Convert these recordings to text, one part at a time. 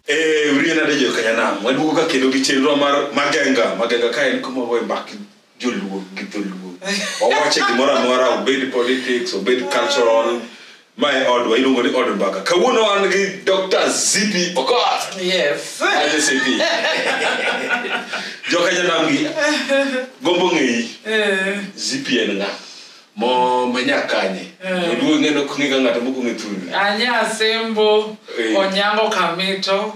Eh, uriyo nade jo kanyanam waduogo ka kendo gi chenro mar magenga magenga ka en kuma wawe mbak joluo gi dholuo wawache gimoro amora obed politics obed cultural Ma e odwa iluongo ni od mbaka. Kawuono wan gi Dr. Zipi Okoth. Yes. Aje Zipi. Joka janam gi. Gombo ng'eyi. Eh. Zipi en ng'a. Mo manya kanye. Eh. Oduo ng'eno kung'e ga ng'ato moko ng'e thuni. Anya Asembo, eh. Onyango Kamito,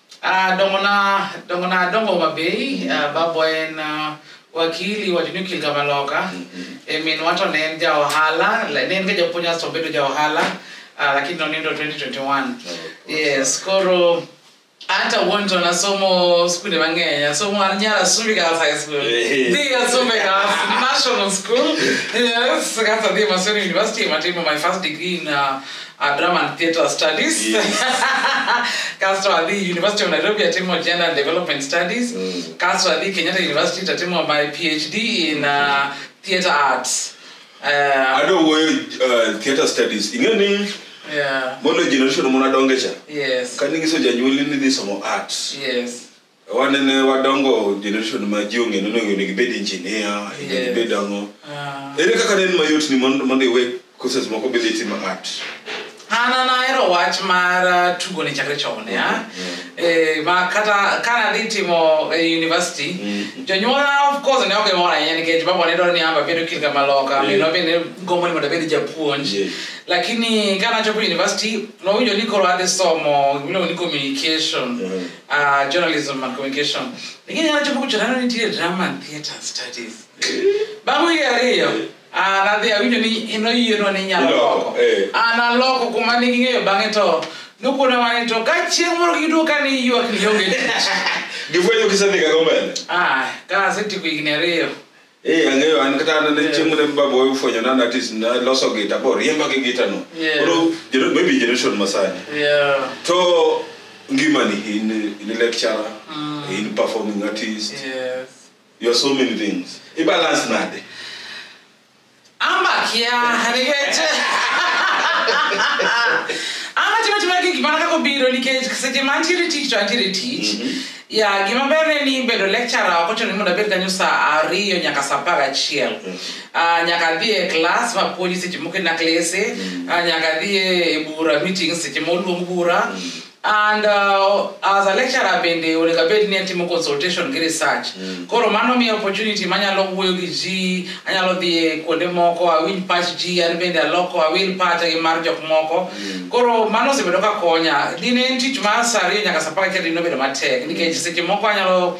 Ah, dongona dongona dongo mabei ah, babo en ah, wakili wacho ni okil kamaloka e minwa to ne en ja ohala la- ne en ga japuonj asto obedo ja ohala ah, lakini nonindo 2021 yes koro hata wonto nasomo skunde mang'eny asomo an nyara sumbi girls high school Eh. dhi asumbi girls national school yes kasa dhi masoni university matimo my first degree in uh, uh, drama and theatre studies Yes. kasto adhi university of nairobi atimo gender and development studies Mm. kasto adhi kenyatta university tatimo my phd in uh, theatre arts uh, ado wuoyo uh, theatre studies ing'e ni yeah. mondo generation muna dongecha yes ka ninyiso janyuoli ni dhi somo arts yes wanene wadongo generation ma ji ong'e nonego onego ibed engineer onego Yes. ibed ang'o Ah. ere kaka ne en mayot ni mondo mondo iwe courses moko bende itimo art an an ahero wach mar uh, tugo ne chakre chon ya Eh, ma kata kana dhi timo eh, university Mm. jonyuola of course ne ok mor ahinya nikech baba ne dwaro ni amba bedo kil kama loka Yeah. mino bende gombo ni mondo abed japuonj Yeah. lakini kana chopo university nowinjo ni koro adhi somo gimiluongo ni communication Yeah. uh, journalism and communication lakini yanacho buku chana ni tire drama and theater studies bangu yare yo ah na dia winyo ni ino yiyo no ni nyalo Iloko, loko eh. ah na loko kuma ni ngeyo bange to nuko na mani to ka chieng moro kidu ka ni yiyo kiyonge Gifwenyo kisedhiga go mbele. ah ka seti ku igni ariyo Eh, ang'eyo an kata an ne chieng' mane baba owe fwenyo na natis naloso gita bo riemba gi gita no Yeah. koro gener- maybe generation masani Yeah. to ngimani in in a lecturer Mm. in performing artist Yes. you are so many things ibalance nade I'm back, yeah. And again, ama chimwe chimwe kiki mana kakobiro nikech seche ma antiere tich to antiere tich mhm. ya gima ber ne ni bedo lecturer ok ochuno ni mondo abed kanyo sa ariyo nyaka sa apar gachiel mhm. ah, nyaka adhi e klas mapuonji seche moko e naklese mhm. ah, nyaka adhi e bura meeting seche ma oluong bura and uh, as a lecturer bende onego abed ni atimo consultation gi research mm. koro mano miya opportunity manyalo wuoyo gi ji anyalo dhi kuonde moko awinj pach ji an bende aloko awil pacha gi mar jok moko mm. koro mano osebedo ka konya dine en tich mar sariyo nyaka sapar kendo dine obedo matek nikech seche moko anyalo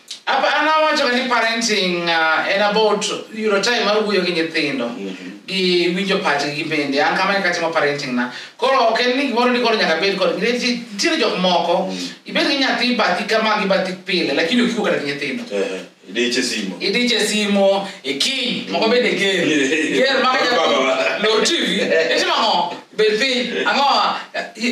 Apa an awacho ni parenting uh, en about yudo time mar wuoyo gi nyithindo gi winjo pachgi gi bende an kamano kaka timo parenting na koro ok en ni gimoro ni koro nyaka bed kod nikech nitiere jok moko ibed gi nyathi bathi kama gi bathi pile lakini okiwo kata gi nyithindo Eh, Idiche simo. idiche simo e kiny moko bende ger ger maka nyathi lor tv itimo ang'o bed piny ang'o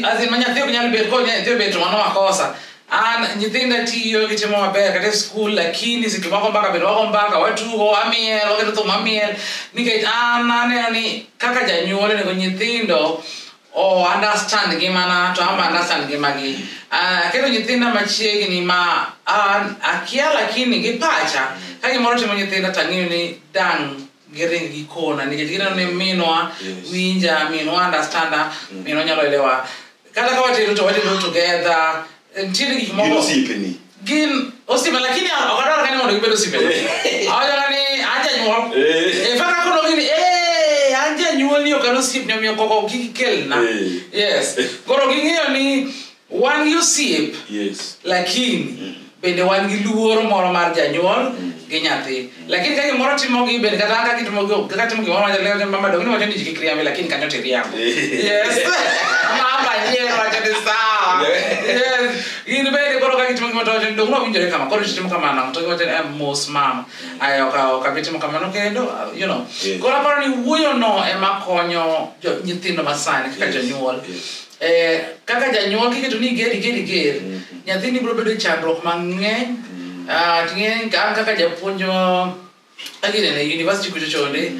asin ma nyathi ok nyal bet koro nyathi obet to mano makosa an nyithindo tiyo gitimo maber kata e skul lakini seche moko mbaka bedo wago mbaka watugo wamiel waketo thum wamiel nikech an aneno ni kaka janyuol onego nyithindo o understand ngimana to amba understand ngimagi Ah, aketo nyithinda machiegni ma an akia lakini gi pacha ka gimoro timo nyithinda tang'eyo ni dang' giring gikona nikech gineno ni minwa Yes. winja minwa understanda minwa nyalo elewa kata ka watedo to watedo together ntiere gik Gin moko osiepeni. gin osiepe lakini ok adwar kani mondo gibed osiepe awachoga ni an janyuol Eh. ifaka konogi ni "Eh, an janyuol ni ok an osiepni omiyo koko kik ikelna Eh. yes koro ging'eyo ni wan gi osiep yes lakini bende wan gi luoro moro mar janyuol gi nyathi lakini ka gimoro timo gi bende kata an ka gitimo gi- kaka timo gimoro mar janyuol mama dong ni wacho ni ji kik riambi lakini kanyo to iriambo yes mama yie wacho ni sawa yes in bende koro ka gitimo gimoro to wacho ni dong nowinjore kama koro titimo kamano to giwacho ni "Eh, mos mama ayo ok ok abi timo kamano kendo uh, you know Yes. koro aparo ni wuoyono ema konyo jo- nyithindo masani kaka Yes, jonyuol yes. eh, kaka janyuol kiketo ni iger iger iger nyathini biro bedo e chandruok mang'eny Ah, ting'e an kaka japuonj ah, aginene university kucho chonde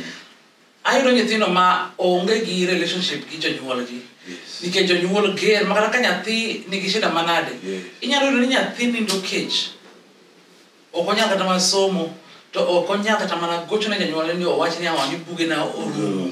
ayudo nyithindo ma onge gi relationship gi jonyuolgi Yes. nikech jonyuol ger makata ka nyathi nigi shida manade Yes. inyalo yudo ni nyathi nindo kech ok onyal kata mana somo to ok onyal kata mana gocho ne janyuolne ni owach ni awang' ni buge na orumo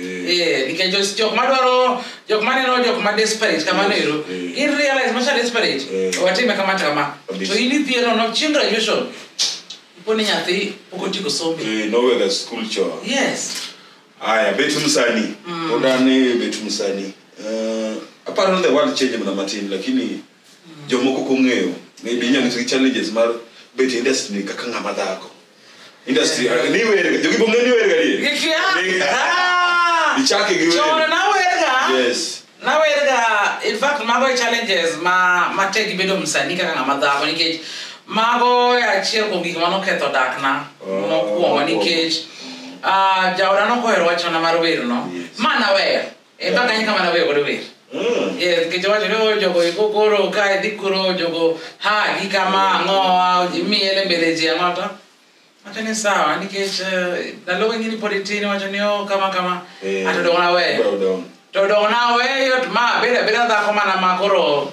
Eh, nikech jos- jok madwaro jok maneno jok ma desperate kamano ero Eh. gin realize macha desperate Eh. watime kama to kama Kabisa. to in idhi eno no chieng graduation ipo ni nyathi pok otieko sombe Eh, nowega school chon yes aya bet msanii odane bet msanii Eh, aparo the world change mana matin lakini jomoko kong'eyo maybe inyalo tiyo gi challenges mar bet industry kaka ng'ama dhako industry ah, ni werga jogi bong'e ni werga ni Gikia. Ni- Ah! ichake gi Chon werga nawerga. yes nawerga in fact mago e challenges ma matek gi bedo msanii kaka ng'ama dhako nikech mago e achiel kuom gik manoketho dakna Oh, mokwongo mokwongo. nikech ah, jaoda nokohero wachona mar werno Yes. ma naweyo Eh, mpaka nyinyi kama nawe kodo wer. Mm. Yes, kichwa chino jogo ikokoro ka dikuro jogo ha gikama angoa jimiele mbele ji angota. Wacho ni sawa nikech eh, ndalo wengine pod tin wacho ni oh kama kama Eh, atodong' naweyo. odong'. To dong' naweyo to ma abeda abeda dhako mana ma koro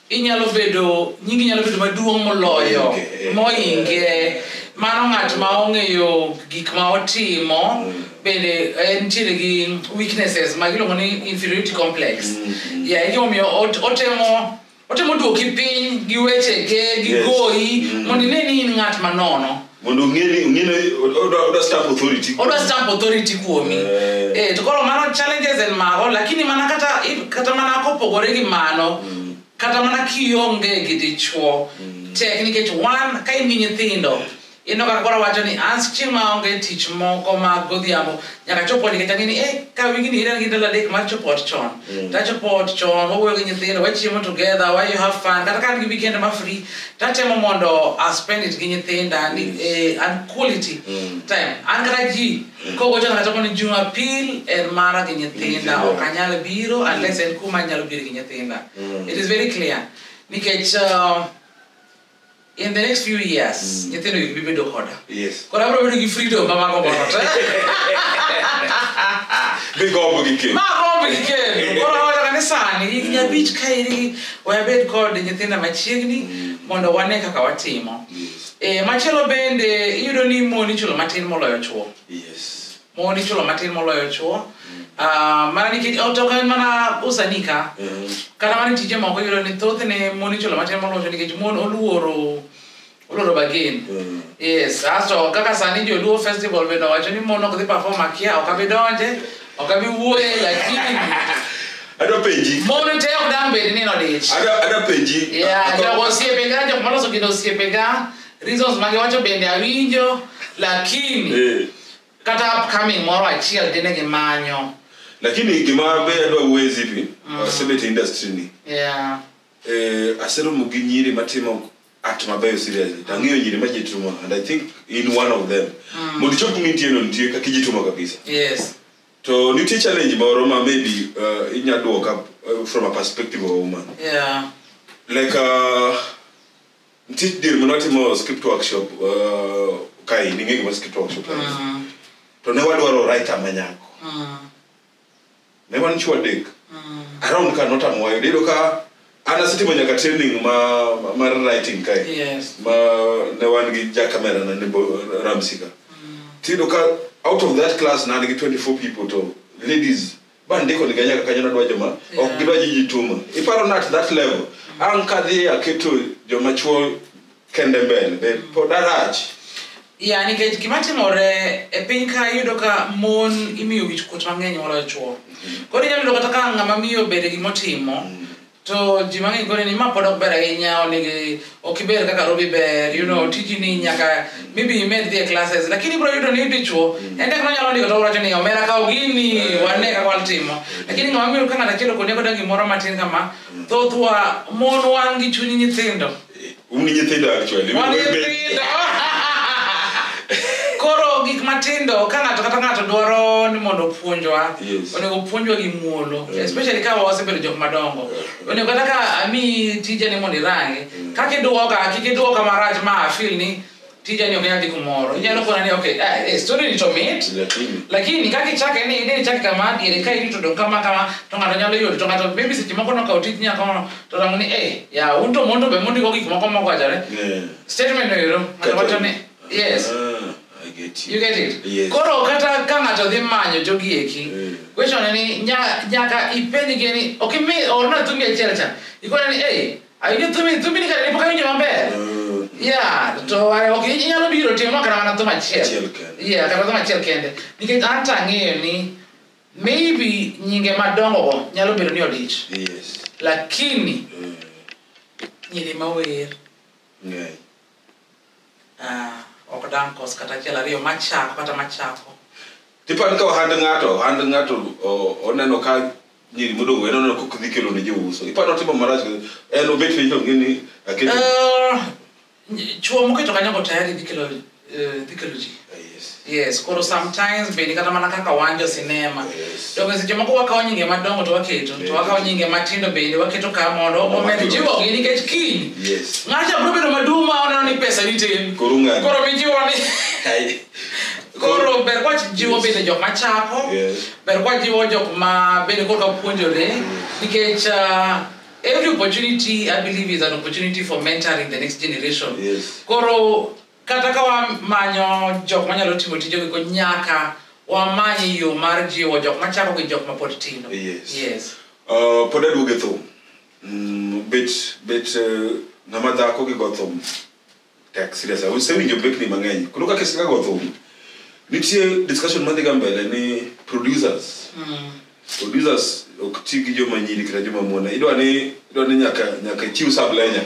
inyalo bedo nyingi nyalo bedo maduong' moloyo moinge mano ng'at ma ong'eyo gik ma otimo mm. bende eh, nitiere gi weaknesses ma giluongo ni inferiority complex mm. ya egimomiyo otemo otemo duoki piny gi wechege gi goyi mm. mondo ine ni in ng'at manono mondo ong'eni ong'eni odwa odwa stamp authority odwa stamp authority kuomi Eh. eh, to koro mano challenges en mago lakini mana kata if- kata mana kopogore gi mano kata mana kionge gi dichuo tek nikech wan ka imi nyithindo ineno kaka koro wacho ni an chieng' maonge tich moko mag godhiambo nyaka chop ot nikech ang'eni eh ka wigi ni iran gi ndalo adek mar chop ot chon Mm. tachopo ot chon wawuoyo gi nyithindo wachiemo together wa you have fun kata ka an gi weekend ma free tatemo mondo a spend it gi nyithinda ni eh, an quality Mm. time an kata ji kogo chon kata koni jumapil en mara gi nyithinda Nyithindo. ok anyal biro unless en kuma anyalo biro gi nyithinda Mm. it is very clear nikech uh, in the next few years mm. nyithindo gi bibedo koda yes. koro abiro bedo gi freedom ma mago mono te migombo gi kendo magombo gi kendo koro awacho kani sani higni mm. abich ka iri wabed kod nyithinda machiegni mm. mondo wane kaka watimo yes. e, machielo bende iyudo ni mon ichulo matin moloyo chuo yes. mon ichulo matin moloyo chuo Ah, mana nikech oh, to ok en mana usanii ka Eh, kata mana tije moko iyudo ni thothne mon ichulo matin moloyo chuo nikech mon oluoro oluoro bagen eh, yes asto kaka sani joluo festival bende owacho ni mon ok dhi perform akia ok abi donje ok abi wuoye lakini adwa penji mon te ok dang bed ni nodich adwa adwa penji Yeah, Atho- jogo osiepega jok maloso gino osiepega reasons mage wacho bende awinjo lakini Eh, kata upcoming moro achiel dine gimanyo lakini gima be adwa wuoye zipi Mm. asebet e industry ni yeah. eh, aseromo gi nyiri matimo act mabeyo seriously to ang'eyo nyiri ma jitumo and i think in one of them Mm. mondo ichop mintie no nitie kaka ijitumo kabisa yes to nitie challenge moro ma maybe uh, inya duoka uh, from a perspective of a woman yeah. like uh, Nitie dir mane watimo script workshop uh, kae ning'e gima script workshop en. Mm, to ne wadwaro writer ma nyako mm, ne wan chuo adek mm. around ka notamo wayudo iyudo ka an asetimo nyaka training ma ma- mar writing kae Yes. ma ne wan gi ja camera na ne bo- ramsika tiyudo ka out of that class na an gi 24 people to ladies ma ndiko ni ganyaka kanyo nadwa joma ok gidwa ji jituma iparo nat that level an kadhi aketo joma chuo kende mbele be pod arach ya nikech gima timore e piny ka iyudo ka mon imiyo wich kuot mang'eny moloyo chuo koro inyalo yudo kata ka ng'ama miyo bede gimotimo to ji mang'eny koni ni ma pod ok ber ahinya onigi ok iber kaka robi ber you know tiji ni nyaka maybe imed dhi e classes lakini ibro yudo ni dichwo en tek nonyalo ndiko to wacho ni omera kaw gini wane kaka watimo lakini ng'ama miyo ka ng'ato achiel okoni koda gimoro matin kama thothwa mon wan gi chuny nyithindo un gi nyithindo actually Wan nyithindo. koro gik matindo ka ng'ato kata ng'ato dwaro ni mondo opuonjwa Yes. onego opuonjwa gi muolo Mm. especially ka wasebedo jok madongo Yeah. onego kata ka ami tija ni mondo irange kaka idwoka kik idwoka marach ma afil ni tija ni oknyal dhi kumoro inyalo kona ni okay ah, eh, story ni to mit lakini lakini kaka ichake ni idhi ichake kama diere ka irito dong kama kama to ng'ato nyalo yudo to ng'ato maybe seche moko nokawo tij nyakono to rango ni eh ya un to mondo be mondiko gik moko mokwachore eh, statement no ero ng'ato Kata- wacho ni yes ah, I get you you. get it Yes. koro kata ka ng'ato dhi manyo jogi eki Mm. question ni nya- nyaka ipenjgi ni ok imi orna thumbi achiel cha ikone ni ei Ayudo thumi, thumi ni kare ne pok awinjo maber. Mm. Yeah, to I- ok inyalo biro timo kata mana thum achiel. Achiel kende. Yeah, kata thum achiel kende. Nikech an to ang'eyo ni maybe nyinge madongogo nyalo bedo ni odich. Yes. Lakini Mm. nyiri ma wer Ng'eny. Ah, ok dang' kos kata achiel ariyo machako kata machako Tipani ka ohand ng'ato, ohand ng'ato o- oneno ka nyiri modong' en oneno kok dhi kelo ne jouso. Ipani otimo marach en obet piny to ng'eni aketo. Eh, chuo moketo kanyogo tayari dhi kelo eh, dhi kelo ji Yes. yes koro sometimes bende kata mana kaka wanjo sinema Yes. donge seche moko wakawo nyinge madongo to waketo to wakawo nyinge matindo bende waketo ka mondo omed jiwogi nikech kiny Yes. ng'acha biro bedo maduong' ma oneno ni pesa nitin Koro ung'ado. koro mijiwo ni Hai. koro ber kwa jiwo bende jok machako Yes. ber kwa jiwo jok ma bende koro kapuonjore nikech uh, every opportunity i believe is an opportunity for mentoring the next generation Yes. koro Kata ka wamanyo jok manyalo timo tije giko nyaka wamany yo mar jiwo jok machako gi jok mapod tindo. Yes. Yes. Uh, pod aduogo e thum. Mm, bet bet uh, ng'ama dhako gi go thum. Tek serious. Usewinjo bekni mang'eny. Koro kaka sika go thum. Nitie discussion madhi ga mbele ni producers. Mm. Producers ok ti gi joma nyiri kata joma mon. Idwa ni idwa ni nyaka nyaka chiw sublenya.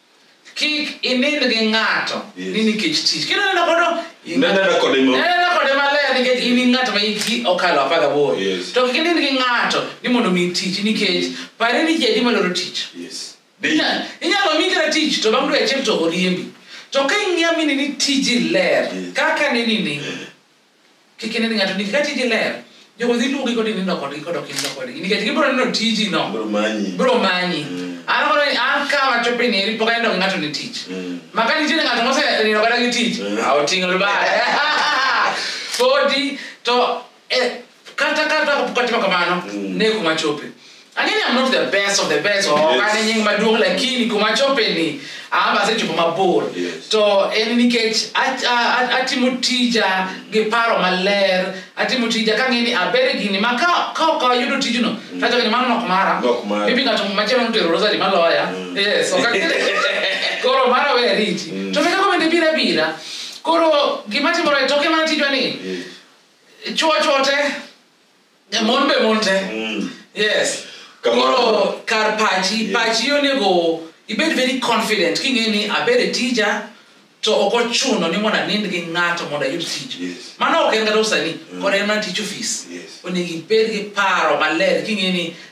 kik inind gi ng'ato Yes. ni nikech tich kendo neno kodo Nenena kode mo- nenena kode maler nikech in ng'at ma hiki okalo apar gaboro Yes. to kik inind gi ng'ato ni mondo mi tich nikech pare ni jadi maloro tich Yes. Inya- inyalo mi kata tich to bang' dwe achiel to oriembi to ka ing'iya mini ni tiji ler Yes. kaka nini ni kik ine ni ng'ato nigi ka tiji ler jogo dhi luongi kod inindo kodgi kodok inindo kodgi nikech gibiro neno tiji no Bro manyi. biro manyi Mm. an koro an ka wachopo ni eri pok anindo gi ng'ato ni tich Mm. maka nitiere ng'ato mosenindo kata gi tich Mm. a oting'o lubare podi to eh, kata kata kapok atimo kamano Mm. ne kuma chope Angeni I'm not the best of the best or Yes. kane nying maduong' lakini kuma chope ni ama asechopo mabor Yes. to en nikech at- a- a- atimo tija gi paro maler atimo tija kang'e ni aber e gini ma ka ka ok ayudo tijno tachoke ni mano nok mara Nok mara. maybe ng'ato machielo notero rosari maloya yes ok ang'e- koro mara we ariti to be kako bende bira bira koro gima timore toke mana tijwa ni chwo chwo te Eh, mon be mon te Mm. yes Kamano. koro kar pachi Yeah. pachi onego ibed very confident king'e ni abed e tija to ok ochuno ni mondo anind gi ng'ato mondo ayud tich Yes. mano ok en kata usani Mm. kod en mana tich ofis Yes. onego ibed gi paro maler king'e ni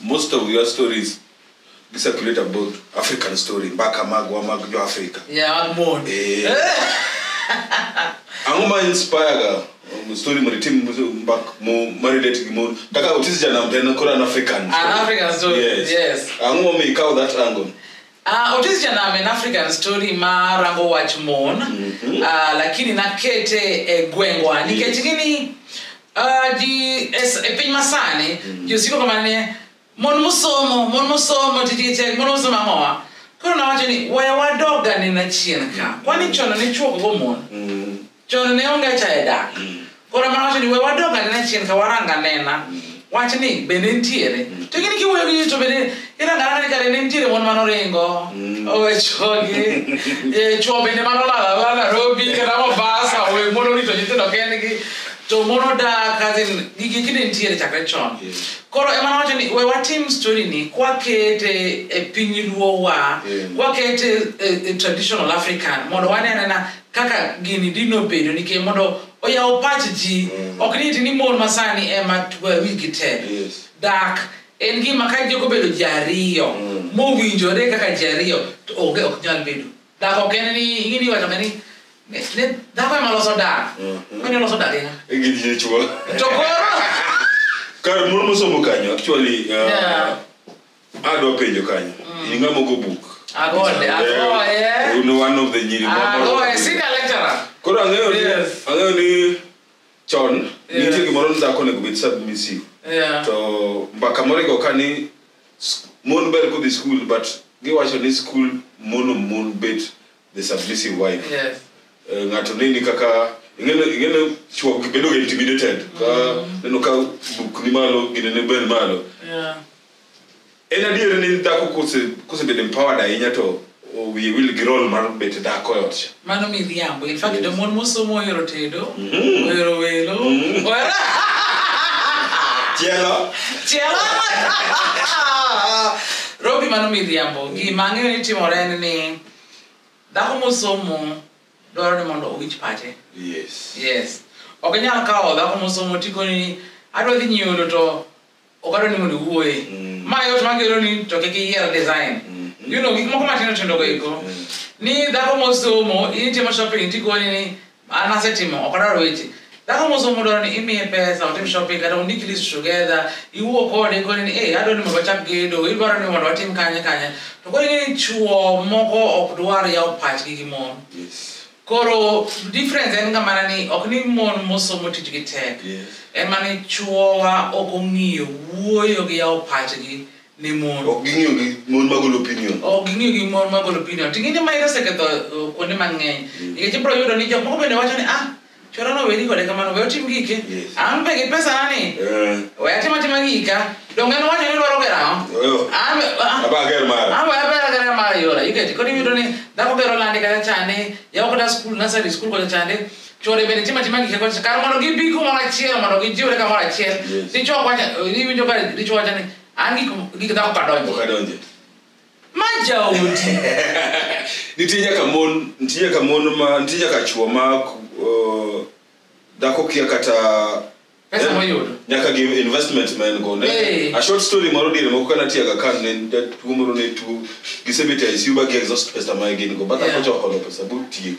most of your stories discirculate about african story mbaka magwa mag jo africa Yeah, I'm bored. Eh. ang'o ma inspirega um, story mori tim mbak mo marelate gi mo kaka otis janam to en koro an african An African story, yes. ang'o momiyo ikawo that angle Uh, Otis Janam, an African story ma rango wach mon Mhm. uh, lakini nakete e gwengwa nikech gini uh, ji es- e piny masani ji osiko kama ni mon mosomo mon mosomo tijite mon mosomo ang'owa koro nawacho ni waya wadoga nena chien ka kwani chono ne chuokogo mon Mm. chon ne onge cha e dak mm. koro mana wacho ni we wadog anena chien ka warang anena mm. wach ni bende nitiere mm. to gini kiwuoyo gi ji to bende irangaranga ni kare ne nitiere mon mano ringo owe chogi e, chuo bende mano lalala narobi kata mobasa owe mon orito nyithindo kendgi to mon odak azin gigi kinde nitiere chakre chon koro emana wacho ni we watim story ni kwakete e piny luowa kwakete e, e traditional african mondo wane anena kaka gini dino bedo nikech mondo oyaw pach ji mm. ok niti ni mon masani ema wigi te yes. dak en gima ka jogo bedo ji ariyo mm. mowinjore kaka ji ariyo to onge ok nyal bedo dak ok en ni ingini wacho ni ne dhako ema loso dak mm -hmm. mani oloso dak ina e to koro kar mon mosomo kanyo actually uh, yeah. adwa penjo kanyo in ng'ama ogo buk Agode, agoye. un one of the nyiri ma- Agoye, senior lecturer. koro ang'eyo ni Yes. ang'eyo ni chon Yeah. nitie gimoro ni dhako onego bed submissive Yeah. to mbaka moro igo ka ni s- mon ber kodhi skul but giwacho ni skul mono mon bet the submissive wife Yes. Eh, ng'ato nini kaka ing'eno ing'eno chuo bedo ga intimidated ka neno ka buk ni malo gine ne ben malo Yeah. en adier ni dhako kose kosebedo empowered ahinya to o- wiye wil gi rol mar bet dhako e ot cha Mano miriambo. In fact, jomon mosomo ohero tedo, ohero welo, ohero chielo chielo. Robi mano miriambo. Gima ang'eyo ni timore en ni dhako mosomo dwaro ni mondo owinj pache yes yes ok inyal kawo dhako mosomo tikoni adwa dhi nyiewodo to ok adwa ni mondo iwuoye Mm. ma yot makelo ni to kik iyier design Mm. you know gik moko matindo tindo go eko Mm. ni dhako mosomo in itimo shopping tikoni ni An asetimo ok adwar weche. Dhako mosomo dwaro ni imiye pesa, otim shopping kata undik list together, iwuo kode koni ni eh adwaro ni mondo wachak gedo, idwaro ni mondo watim kanye kanye. To koro ing'e ni chwo moko ok dwar yawo pachgi gi mon. Yes. Koro difference en ga mana ni ok ni mon mosomo tijgi tek. Yes. En mana ni chwowa ok ong'iyo wuoyo gi yawo pachgi. ni mon ok ging'iyo gi mon magolo opinion ok ging'iyo gi mon magolo opinion ting'e ni mairo oseketho uh, kuonde mang'eny mm. nikech ibiro yudo ni jok moko bende wacho ni ah chora no weri kode kamano we otim gike an be gi pesa nani eh. we atim atima gika donge en wacho ni dwaro gero ang'o an be ager ah. mara yora iketi kod iyudo ni dhako gero lande kata chande yawo kata skul nasari skul kata chande chode bende timo atima gik kod kar mondo gibi kumoro achiel mondo gijiwre kamoro achiel Yes. dichwo ok wacha iwinjo ka dichwo wacha ni an gik gik dhako ok kadonje adonje ma jaodi nitie nyaka mon nitie nyaka mon ma nitie nyaka chwo ma uh, dhako kia kata pesa Yeah. moyudo nyaka gi investment ma en go ne Hey. a short story moro diere moko kana tiaga kan ne jatuo moro ne tuo gisebet e ICU ba gi exhaust pesa ma gin go bata Yeah. kocha oholo pesa but tiek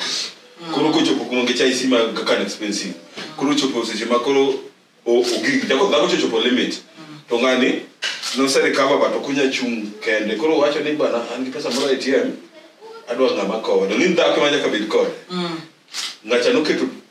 koro kochopo kuma ngecha ICU ma kaka expensive koro chopo seche ma koro o- ogik jako dhako chochopo limit to ngani no se recover but okunya chung kende koro wacho ni bana an gi pesa moro e ATM adwa ngama kode ni dhako ma nyaka bed kode ngacha noketo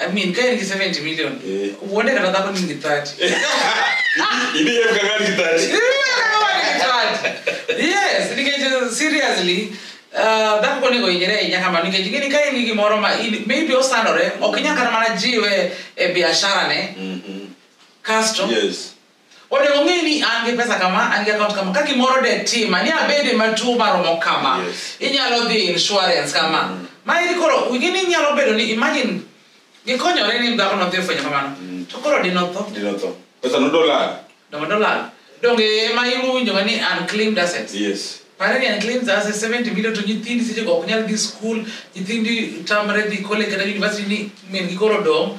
I mean, kaya ni 70 million. Eh. Uone kana kako ni ni 30. Ibi yeye mkangani kitati. yes nikech seriously uh, dhako konego hinyre ahinya kama nikech ing'e ni ka in gi gimoro ma in- maybe osandore ok inyal kata mana jiwe e biasharane Mhm. kasto Yes. onego ong'e ni an gi pesa kama an gi account kama ka gimoro de tima ni abede matuo maromo kama Yes. inyalo dhi insurance kama Mm. ma iri koro wingi ni nyalo bedo ni imagine gikonyore ni dhako nodhi ofwenyo kamano Mm. to koro dinotho Dino tho. Pesa no dollar. dongo dolal donge ma iwinjoga ni unclaimed assets Yes. pare ni unclaimed assets 70 million to nyithindi seche go ok nyal dhi school nyithindi tamre dhi college kata university ni min gi koro dong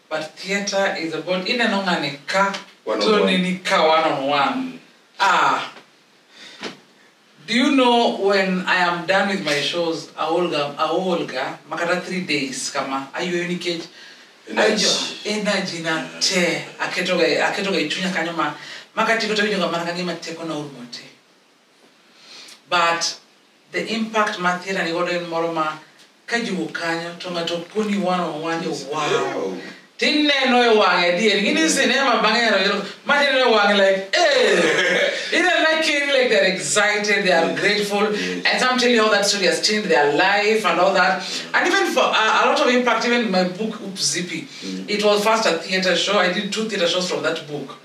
But theater is about ineno ng'ani ka One on to one. nini ka one on one. Ah. Do you know when I am done with my shows, aolga aolga makata three days kama ayueyo nikech Energy. ajo- energy na te aketoga aketoga ichunya kanyo ma makati kota winjo kama kangima teko na urmote. but the impact ma thira ni godo en moro ma ka jiwo kanyo to ng'ato koni one on one ni wow tineno e wang'e adier gini sinema bang'e ero ero ma tineno e wang'e like eh either like kidding like they're excited they are grateful and some tell you how that story has changed their life and all that and even for a, a lot of impact even my book Oop Zippy it was first a theater show I did two theater shows from that book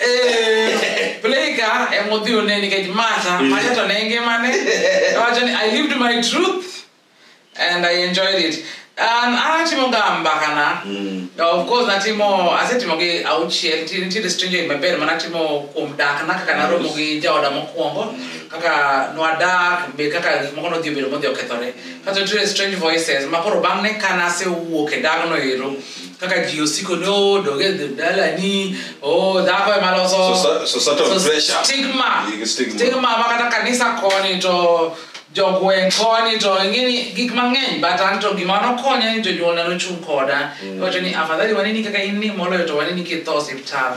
Eh, Playka e mudhi one nikech Martha, Martha to ne ngimane. Owacho ni I lived my truth and I enjoyed it. An atimo ga mbakana. Mm. Of course natimo asetimo gi auchiel nti- nitiere stranger in my bed mana atimo kuom dak na kaka naromo gi jaoda mokwongo kaka nwadak be kaka gik moko nodhi obedo modhi okethore kato nitiere strange voices ma koro bang' ne ka nasewuok e dagno ero kaka ji osiko ni oh doge dala ni oh dhako ema loso Soci- societal so- pressure. stigma Igi stigma. stigma ma kata kanisa koni to jogweng' koni to ing'eni gik mang'eny but an to gima nokonya ni jonyuolna nochung' koda wacho ni afadhali waneni kaka in ni moloyo to waneni kitho osiptal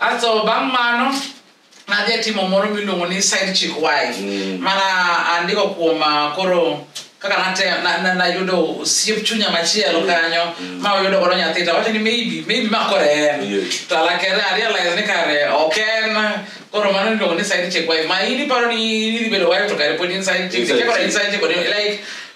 Aso bang' mano nadhi atimo moro miluongo ni side chick wife mm. mana andiko kuom ah, koro kaka nayudo na, na osiep chunya machielo mm. kanyo mm. ma oyudo godo nyathi to wacho ni maybe maybe ma kore en yes. to alakere arealize ni kare ok en koro mano niluongo ni side chick wife ma in iparo ni idhi bedo wife to kare pod inside chick koro inside chick like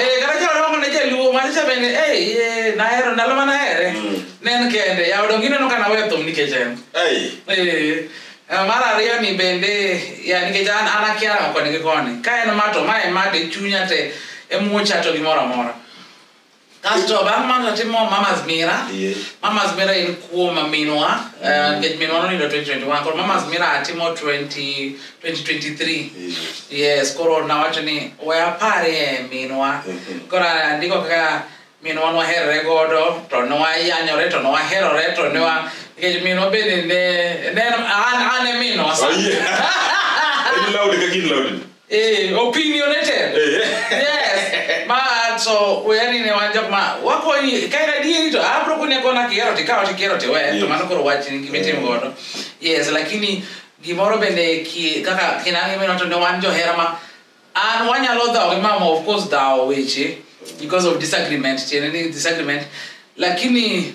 Eh, kata jalo dongo ne jaluo manyiso bende "Ei, eh, nahero ndalo ma nahere Mm. ne en kende yawa donge ineno ka naweyo thum nikech en Ei. Eh, eh, mar ariyo ni bende ya nikech an an akia rango koni gi koni ka en ma to ma en ma to e chunya te e mucha to gimoro amora Kasto bang' mano natimo Mama's Mira. Yeah. Mama's Mira en kuom minwa. Mm. Eh, nikech minwa nonindo 2021. Koro Mama's Mira atimo 20, 2023. Yeah. Yes, koro nawacho ni we aparie minwa. Mm -hmm. Koro andiko kaka minwa nwaherre godo, to nwayanyore, to nwaherore, to nwa... Mm -hmm. Because me no been in there. And then, and, and me no. Oh, yeah. Are you loud? Are you loud? Eh, opinionated. yes. Ma so yani ne wanja ma wako ni kaira di to abro kunya kona kiero ti kao ti kiero ti we to mano koro wach ni gimetim godo. Yes, lakini gimoro bende ki kaka kinange meno to ne wan jo hera ma an wanyalo dhawo gi mama of course dhawo weche because of disagreement tiene ni disagreement lakini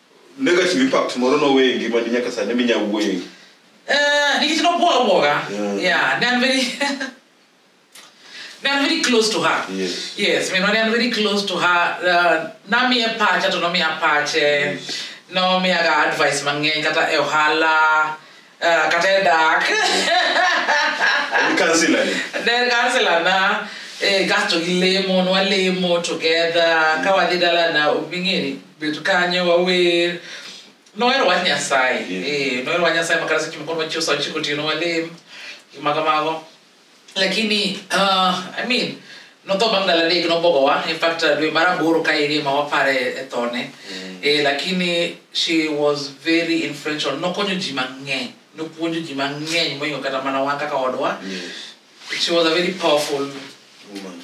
negative impact moro nowe e ngimani nyaka sani minya wuoye Eh, nikech nobwoga bwoga Yeah. yeah ne an very ne an very close to her Yes. yes minwa ne an very close to her uh, namiye pacha to nomiya pache nomiyaga advice mang'eny kata e ohala Ah, kata e dak En counselor ni. then kansela na eh, kasto gi lemo nwalemo together ka wadhi dala na ming'eni bet kanyo wawer nohero wach nyasaye Yeah. Eh, nohero wach nyasaye makata seche moko nwachiew saa ochiko otieno walem gima kamago lakini uh, i mean notho bang' ndalo adek nobogowa in fact uh, dwe mar aboro ka irima wapare e thone mm. eh, lakini she was very influential nokonyo ji mang'eny nopuonjo ji mang'eny moingo kata mana wan kaka odwa yes. she was a very powerful woman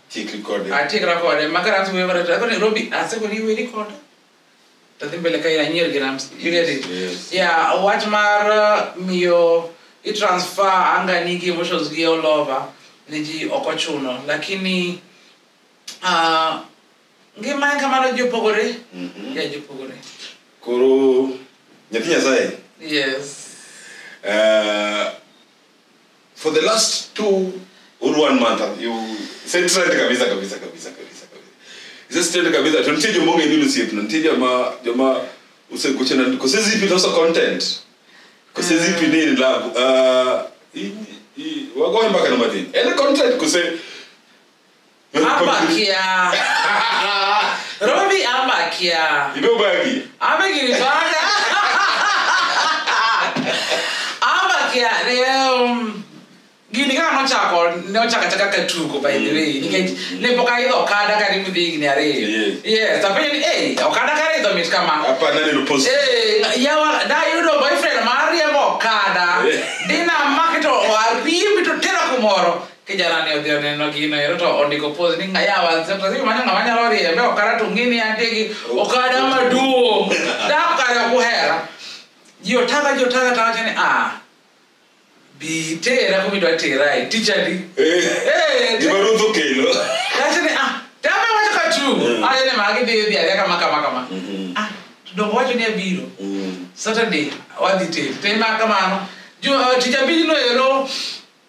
Chik recording. ati rakode makaransi wewe rata ko Nairobi ase ko riwe record tadhi mbele ka ina nyer grams you get it Yes. yeah wach mar uh, miyo i transfer anga nigi emotions gi all over ne ji ok ochuno lakini uh, ngima en kamano ji opogore Mhm. ya ji opogore Koro nyathi Nyasaye. yes Eh, for the last two or one month you said trend kabisa kabisa kabisa kabisa kabisa he says trend kabisa to nitie jomonge ni lusiepe na nitie joma joma usekuche na ko says if it also content ko says if ni ni love uh i- i- wagoe mpaka na madini any content ko say Ambakia. Robi ambakia. You know Bagi? Amekiri bana. Ambakia leo mm, gini kama nochako nochaka chaka katuko by the way nikech ne pok aidho okada karibu dhi higni ariyo Yes. yes apenjo ni "Hey, okada karidho mit kama Hapa nani lupost? Eh, yawa dayudo boyfriend mariembo okada Eh. dinamak to ariembi to tera kumoro kijana ne odhi oneno gino ero to ondiko pos ni ngayawa sasio mane ng'ama nyalo riembe okara to ng'ini antie gi okada maduong' dak kare ok uhera ji otaga ji otaga to wacho ni ah bi tera kumidwa terae tichadi Eh, gima ruth okelo wacho ni ah tama wacho ka tu Mm. ayo ni magi dhi dhi adhi kama kama kama Mhm. ah to dongo wacho ni abiro Mm. saturday wadhi tel tema kamano Jo- eh, tich abijno ero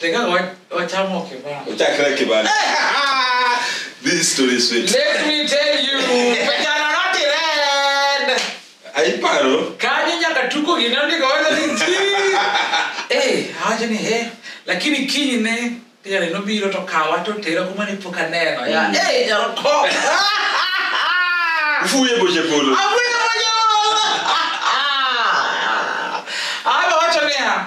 Teka wa- wachamo kibao. Uchakra kibali. This story is sweet. Let me tell you, vijana noti red. Aiparo. Kanye nyaka tuko ginandika wala ni ji. Eh, haja ni he. Lakini kinyi ne tena no biro to kawa to tera kuma ni poka neno ya. Mm. Eh, nyaro ko. Fuye boje polo. Abuya moyo. Aba wacho ni ha.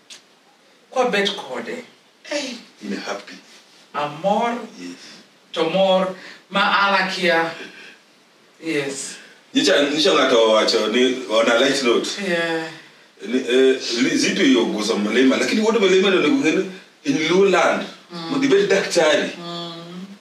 kwa bet kode hey, in happy amor yes to mor ma alakia yes nyicha nyicha ng'ato owacho ni on a light note yeah ni, eh, li- zitu yo guso mlima lakini wote mlima ndio nikungeni in low land mm. dibet daktari mm.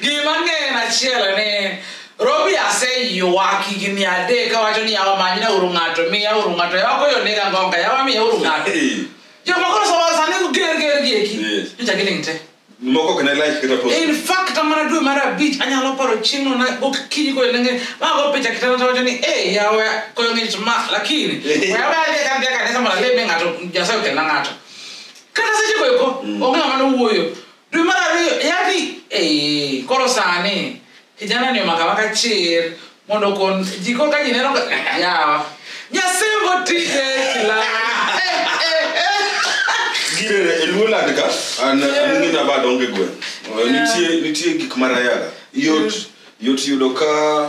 Gima ng'eyo achiel ni Robi aseywak higni adek kawacho ni yawa manyna uru ng'ato miya uru ng'ato yawa koyo nega ngonga yawa miya uru ng'ato Eh, joma koro sama sani ger ger gi eki Yes. nyocha giling' te moko ok ne like kata post in fact amana dwe mar abich anyalo paro chieng'no na okinyi koyo nenge mago picha kitanda tawacho ni e yawa koyo ng'ich ma lakini yawa adhi kadhi e kanisa mondo aleme ng'ato nyasaye okelna ng'ato kata seche goeko onge ng'ama nowuoyo dwe mar ariyo yani eh, koro sani kijana ni omaka maka chir mondo kon ji koro ka ji neno ka- yawa nyasembo tije kila Gire e luo lad ka an an ngina bad onge gwen. Eh, Nitie nitie gik marayaga. Yot yot yudo ka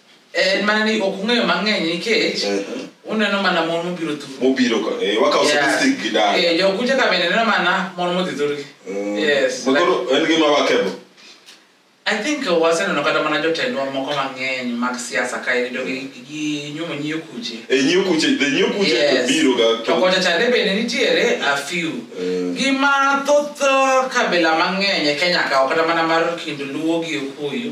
en mana ni ok ung'eyo mang'eny nikech Mhm. uneno mana mon mobiro thuru mobiro ka eh, wakawo statistic gi dala Eh, jokucha ka bende neno mana mon modhi thurgi Mm. yes Ma koro en gima wakebo I think uh, waseneno kata mana jotendwa moko mang'eny mag siasa ka irido gi gi nyumo nyiyo kuche e nyiyo kuche the nyiyo kuche Yes. biro ga to kocha chande bende nitiere a few Mm. gima thoth uh, kabila mang'eny e kenya kawo kata mana mar kind luo gi okuyu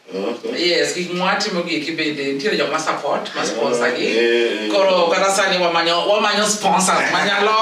yes gik mwatimo gi eki bende nitiere jok ma support ma sponsor gi Eh, eh, eh. koro kata sani wamanyo wamanyo sponsors manyalo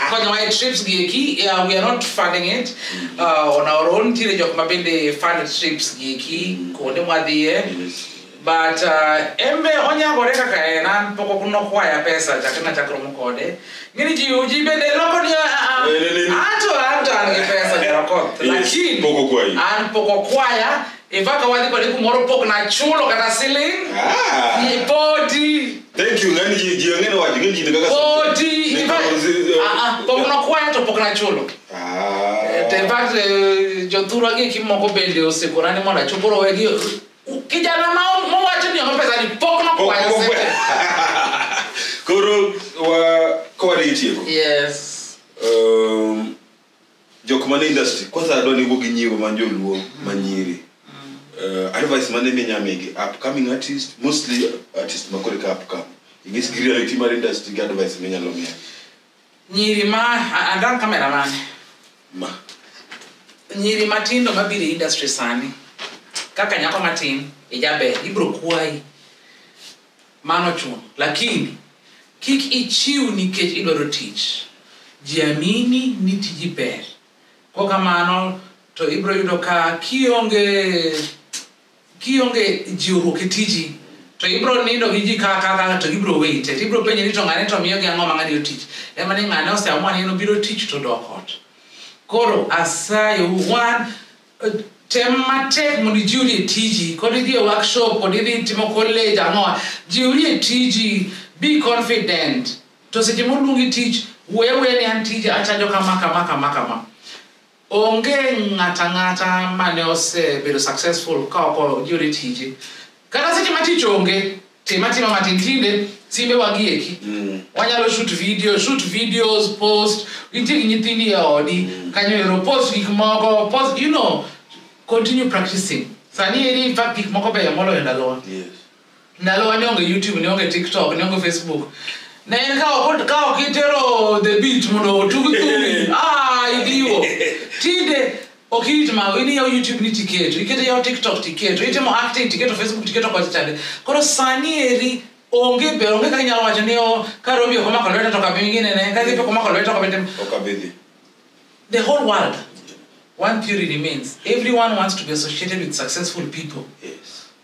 konyowa e trips gi eki yeah, we are not funding it uh, on our own nitiere jok ma bende fund trips gi eki kuonde mwadhiye Yes. but uh, embe onyagore kaka en an pok ok nokwaya pesa chakre nachakromo kode Ngini ji uji bende loko ni ah, ah, Eh, ni- ni- ni. anto anto an gi pesa Nyarokoth. Yes, Lakini pok okwayi. an pok okwaya in fact awadhi kode kumoro pok nachulo kata siling Ah. Ni podi Thank you, ngani ji ji angene wacho ngani ji ni kaka. podi Ni in fact kaka- ah, ah, pok nokwaya to pok nachulo Ah. in fact eh, jothurwa gi kimoko bende osekorani mondo achop koro wegi kijana ma mowacho ni omo pesa ni pok nokwayo Pok- pok- sente. koro wa- kawadhi tieko yes um, jok man e industry kwanza adwa ni wuo gi nyiwo man joluo manyiri uh, advice mane minyamigi upcoming artist mostly artist makore ka upcome ingis gi reality mar industry gi advice minyalo miya Nyiri ma andan kamera mane? Ma. Nyiri matindo mabiro industry sani. Kaka nyako matin ijaber ibro kwayi. Mano chuno. Lakini kik ichiw nikech idwaro tich. Jiamini ni tiji ber. Kokamano to ibro yudo ka kionge Kionge jiwruok e tiji to ibiro nindo gi ji ka ka ka to ibiro weyite to ibiro penje ni to ng'ane to miyogi ang'o ma ng'ani otich ema ni ng'ane oseamua ni en obiro tich to dok ot koro asayo wan tem matek mondo ijiwri e tiji kod idhi e workshop kod idhi timo college ang'owa jiwri e tiji be confident to seche moluongi tich wuoye wuoye ni an tija achajo kama kama kama kama Onge ng'ato ang'ata mane osebedo successful ka ok oyudo e tije. Kata seche ma tich onge, tim atima matin tinde simbe wagieki. Mm. Wanyalo shoot video, shoot videos, post, nitie gi nyithindi e odi, mm. kanyo ero post gik moko, post, you know, continue practicing. Sani eri in fact gik moko beyo moloyo ndalowa. Yes. ndalowa ne onge youtube ne onge tiktok ne onge facebook ne en ka ok ka ok itero the beat mondo otug thumi ah idiwo tinde ok irit mago in iyawo youtube ni tiketo iketo iyawo tiktok tiketo itimo acting tiketo facebook tiketo kocha chande koro sani eri onge be onge kaka inyalo wacho ni o ka robi ok omako lweta to kabi ngine ne ka gipe ok omako lweta to kabi tim ok abidhi the whole world one theory remains everyone wants to be associated with successful people yes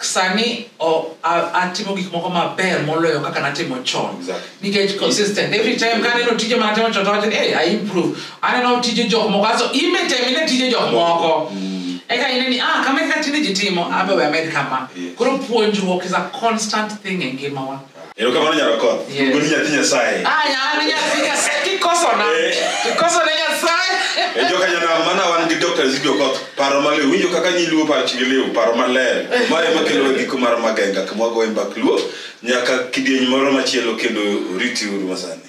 sani o- a- atimo gik moko maber moloyo kaka natimo chon Exactly. nikech consistent every time kaneno tije manatimo chon tawacho ni hey, i improve aneno tije jok moko aso imetem ine tije jok moko eka ine ni ah kama kaka tinde ji timo abe we amed kama Yeah. koro puonjruok is a constant thing e ngimawa erokamano nyarokoth Yes. ubuni nyathi nyasaye Ah, nyani nyathi Nyasaye kikoso na. Eh. Kikoso ne Nyasaye. e joka nyanam mana wan gi dr zigi okoth paro maliw winjo kaka nyiluo pach gi liw paro maler ma ema kelo giko mar magenga kama wagoye mbak luo nyaka kidieny moro machielo kendo riti uru masani